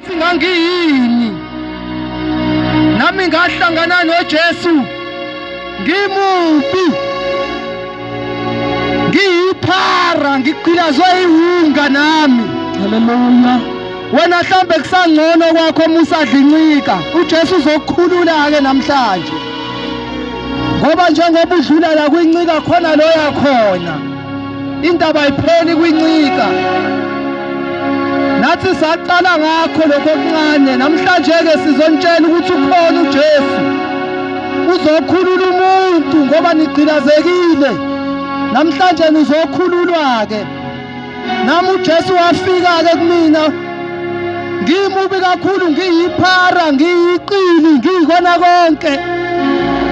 Singangiyini? Nami ngahlangana noJesu ngimubi. Ngiyiphara ngigqilazwe iwunga nami. Haleluya. Wena mhlambe kusangcono kwakho uma usadlincika. UJesu uzokukhulula ke namhlanje. Ngoba njengoba udlula la kwincika khona loya khona. Indaba ipheli kwincika. Nathi saqala ngakho lokho okuncane namhlanje ke sizontshela ukuthi ukhona uJesu. Uzokhulula umuntu ngoba nigqilazekile. Namhlanje nizokhululwa ke. Nami uJesu wafika ke kumina ngimubi kakhulu ngiyiphara ngiyiqili ngiyikona konke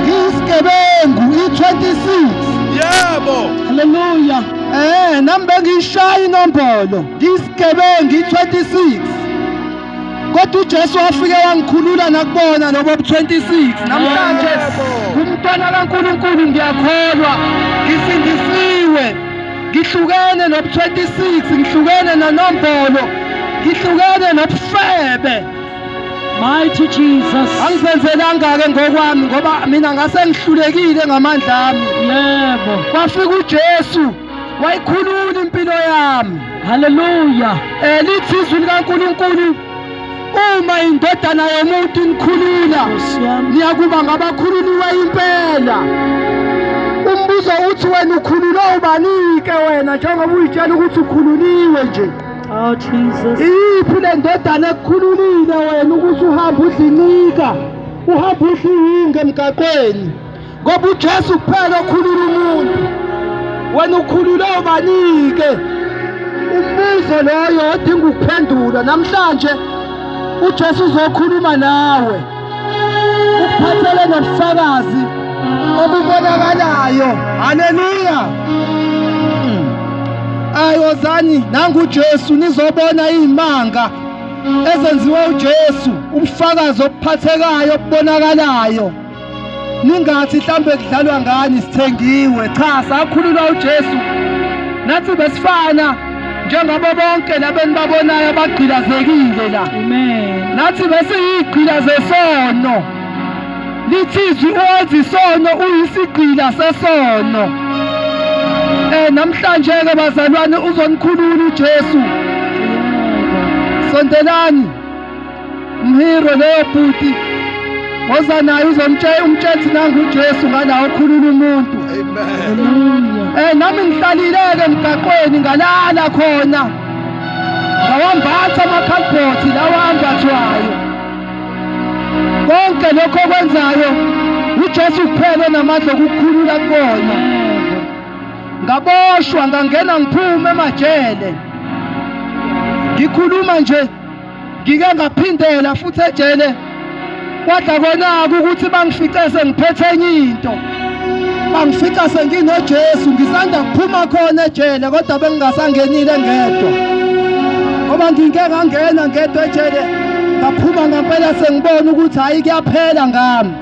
ngiyisigebengu i-26 yebo haleluya eh nami bengiyishaya inombolo ngiyisigebengu i-26 kodwa uJesu wafike wangikhulula nakubona lobo 26 namhlanje kumntwana kaNkuluNkulu ngiyakholwa ngisindisiwe ngihlukene nobu-26 ngihlukene nanombolo ngihlukene nobufebe mighty jesus angizenzelanga-ke ngokwami ngoba mina ngase ngihlulekile ngamandla ami yebo kwafika ujesu wayikhulula impilo yami haleluya um lithi izwi likankulunkulu uma indodana yomuntu inikhulula niyakuba ngabakhululiwe impela umbuzo uthi wena ukhululwe ubani-ke wena njengoba uyitshela ukuthi ukhululiwe nje Oh Jesus. Iphi le ndodana ekukhululile wena ukuthi uhambe udlincika, uhambe udliwinge emgaqweni. ngoba uJesu kuphela okhulula umuntu wena ukhulule ubanike umbuzo loyo odinga ukuphendula namhlanje uJesu uzokhuluma nawe ukuphathele nobufakazi obubonakalayo haleluya ayozani nangu uJesu nizobona izimanga ezenziwe uJesu ubufakazi obuphathekayo obubonakalayo ningathi mhlawumbe kudlalwa ngani sithengiwe cha sakhululwa uJesu nathi besifana njengabo bonke labenibabonayo abagqilazekile la amen nathi besiyigqila zesono lithizwi owenza isono uyisigqila sesono eh namhlanje ke bazalwane uzonikhulula uJesu sondelani umhirwe loyo bhuti woza naye uzomtshela umtshela nangu uJesu ngalawo okhulula umuntu eh nami ngihlalileke emgaqweni ngalala khona ngawambatha amakhalibhothi lawa ambathwayo konke lokho okwenzayo uJesu kuphela onamandla okukhulula kona ngaboshwa ngangena ngiphume emajele ngikhuluma nje ngike ngaphindela futhi ejele kwadla konaka ukuthi bangifice sengiphethe enye into bangifica senginojesu ngisanda kuphuma khona ejele kodwa bengingasangenile ngedwa ngoba ngike ngangena ngedwa ejele ngaphuma ngempela sengibona ukuthi hhayi kuyaphela ngami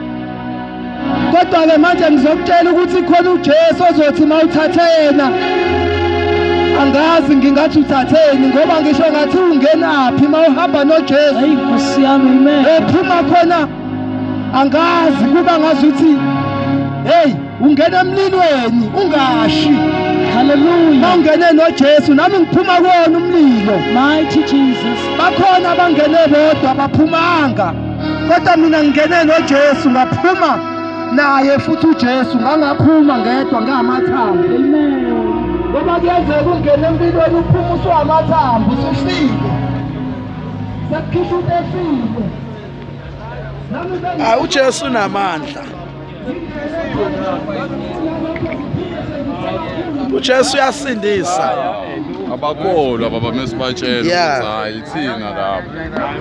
kodwa-ke manje ngizokutshela ukuthi khona ujesu ozothi uma uthathe yena angazi ngingathi uthatheni ngoba ngisho ngathi ungenaphi uma uhamba nojesu ephuma khona angazi kuba ngazi ukuthi heyi ungena emlilweni ungashi Hallelujah. Bangene noJesu nami ngiphuma kuwona umlilo. Mighty Jesus. Bakhona abangene bodwa baphumanga. kodwa mina ngingene noJesu ngaphuma naye futhi uJesu ngangaphuma ngedwa ngamathambo amen ngoba kuyenzeka ungene empilweni uphuma usuwamathambo usufike sekukhishwa into efile nami uJesu unamandla uJesu uyasindisa abakholwa baba mesibatshela Yeah. ukuthi hayi ithina lapha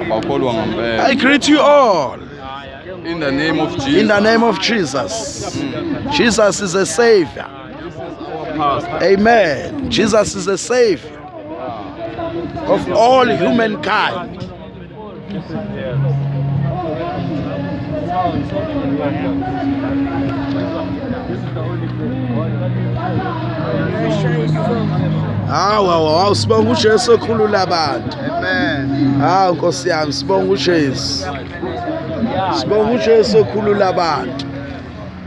abakholwa ngempela i greet you all in the name of jesus in the name of jesus jesus is a savior amen jesus is a savior of all humankind hawu hawu hawu sibonga ujesu okhulula abantu hawu nkosi yami sibonga ujesu sibonga ujesu okhulula abantu